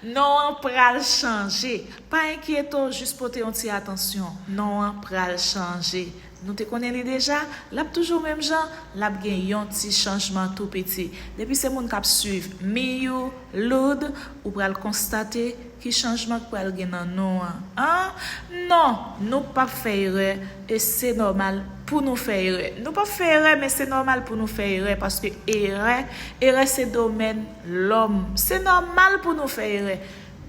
Non an pral chanje. Pa enkyete w jis pote yon ti atansyon. Non an pral chanje. Nou te konnen li deja, l ap toujou menm jan, l ap gen yon ti chanjman tou piti. Depi se moun k ap swiv Miyou, Lourd, ou pral konstate. Ki chanjman k pral gen nan non an? An? Non! Nou pap fè erè e se nòmal pou nou fè erè. Nou pap fè erè men se nòmal pou nou fè erè paske erè, erè se domèn lòm. Se nòmal pou nou fè erè.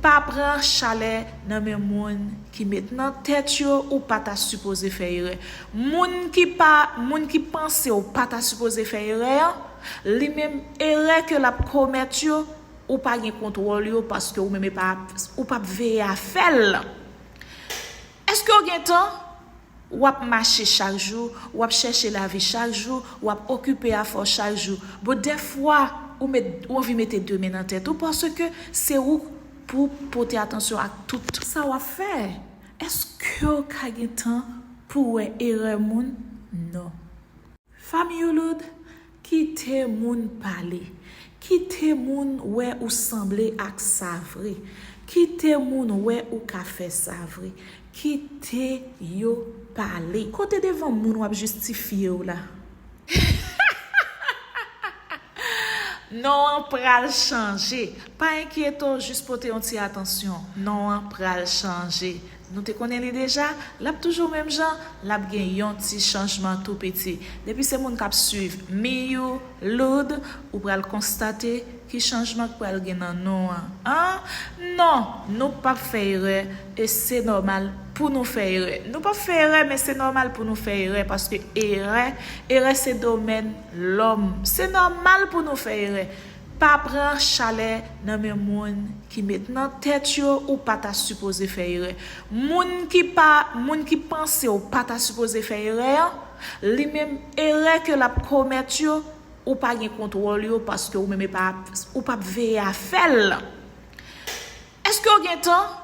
Pa pran chalè nan men moun ki met nan tèt yo ou pa ta sipoze fè erè. Moun ki pa, moun ki panse ou pa ta sipoze fè erè an, li menm erè ke l ap komèt yo, Ou pa gen kontwòl yo paske ou menm e pa ou pa p veye afè l. Èske w gen tan? W ap mache chak jou, w ap chèche lavi chak jou, w ap okipe afè w chak jou. Bon dèfwa ou met ou anvi mete de men nan tèt ou paske se ou k pou w pote atansyon ak tout. Sa w ap fè. Èske w ka gen tan pou w wè erè moun? Non. Fam Youloud kite moun pale kite moun wè ou sanble ak sa vre kite moun wè ou ka fè sa vre kite yo pale. Kote devan moun wap jistifyew la hahahahaha non an pral chanje pa enkyetew jis pote yon ti atansyon non an pral chanje. Nou te konnen li deja, lap toujou menm jan, lap gen yon ti chanjman tou piti. Depi se moun kap swiv Miyou, Lourd, ou pral konstate ki chanjman k pral gen nan nou an. An! Non! Nou pap fè erè e se nòmal pou nou fè erè. Nou pap fè erè men se nòmal pou nou fè erè paske erè, erè se domèn lòm. Se nòmal pou nou fè erè. Pa pran chalè nan men moun ki met nan tèt yo ou pa ta sipoze fè erè. Moun ki pa moun ki panse w pa ta sipoze fè erè an, li menm erè ke l ap komèt yo, ou pa gen kontwòl yo paske ou menm e pa ou p ap veye afè l. Eske w gen tan?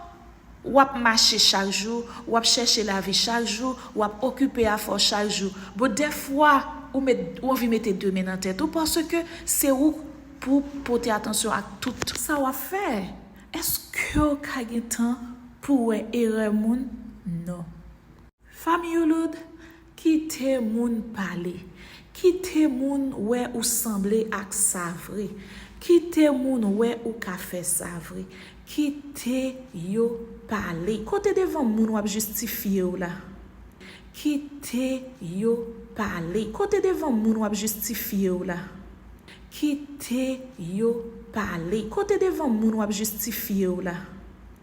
W ap mache chak jou, w ap chèche lavi chak jou, w ap okipe afè w chak jou. Bon, dèfwa, ou met, ou anvi mete de men nan tèt ou paske se ou k pou w pote atansyon ak tout. Sa w ap fè. Eske w ka gen tan pou w wè erè moun? Non. Fam Youloud, kite moun pale, kite moun wè ou sanble ak sa vre, kite moun wè ou ka fè sa vre, kite yo pale. Kote devan moun wap jistifye w la? Kite yo pale. Kote devan moun wap jistifye w la? Kite yo pale. Kote devan moun wap jistifye w la?